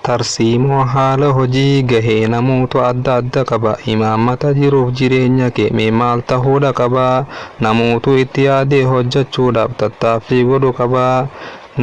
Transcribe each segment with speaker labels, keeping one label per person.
Speaker 1: Tarsiimoo haala hojii gahee namoota adda adda qaba. Imaammata jiruuf jireenya kee mee maal tahuudha qaba? Namootu itti yaadee hojjachuudhaaf tattaaffii godhu qaba.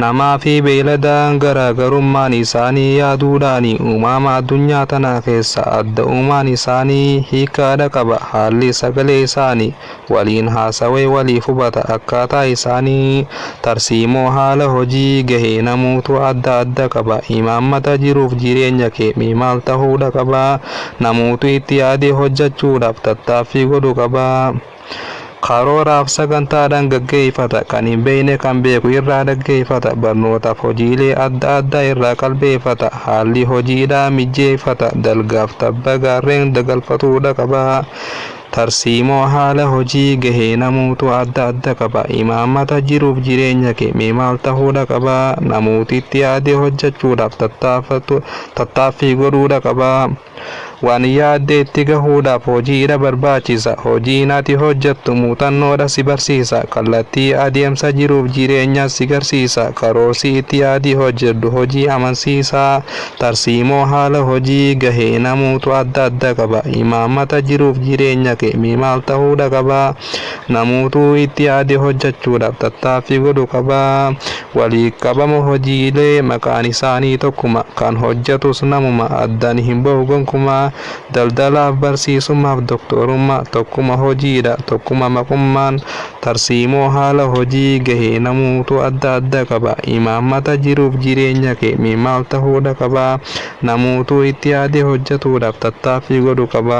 Speaker 1: Namaa fi beeyladaan garaagarummaan isaanii yaaduudhaani. Uumama addunyaa tanaa keessaa adda uumaan isaanii hiikkaadha qaba. Haalli sagalee isaanii waliin haasawee waliif hubata. Akkaataa isaanii, tarsiimoo, haala hojii, gahee namuutu adda adda qaba. Imaammata jiruuf jireenya kee mee maal tahuudha qaba. Namuutu itti yaadee hojjachuudhaaf tattaaffii godhu qaba. Karooraaf sagantaadhaan gaggeeyfata. Kan hin beeyne kan beeku irraa dhaggeeyfata. Barnootaaf hojiilee adda addaa irraa qalbeeyfata. Haalli hojiidhaa mijjeeyfata. Dalgaaf tabba gaarreen dagalfatuudha qaba. Tarsiimoo haala hojii gahee namuutu adda adda qaba. Imaammata jiruuf jireenya kee mee maal tahuudha qaba? Namuuti itti yaadee hojjachuudhaaf tattaaffatu, tattaaffii godhuudha qaba. Waan yaadde itti gahuudhaaf hojiidha barbaachisa. Hojiin ati hojjattu muuxannoodha si barsiisa. Kallattii adeemsa jiruuf jireenyaa si garsiisa. Karoorsi itti yaadii hojjadhu hojii amansiisaa Tarsiimoo haala hojii gahee namuutu adda adda qaba. Imaammata jiruuf jireenya kee mee maal tahuudha qaba? Namuutuu itti yaade hojjachuudhaaf tattaaffii godhu qaba. Waliit qabama hojiilee maqaan isaanii tokkuma. Kan hojjatus namuma. Addan hin bahu gonkumaa. Daldalaaf, barsiisummaaf, doktoorummaa. Tokkuma hojiidha. Tokkuma maqummaan. Tarsiimoo haala hojii gahe namuutu adda adda qaba. Imaammata jiruuf jireenya kee mee maal tahuudha qaba? Namuutu itti yaadee hojjatuudhaaf tattaaffii godhu qaba.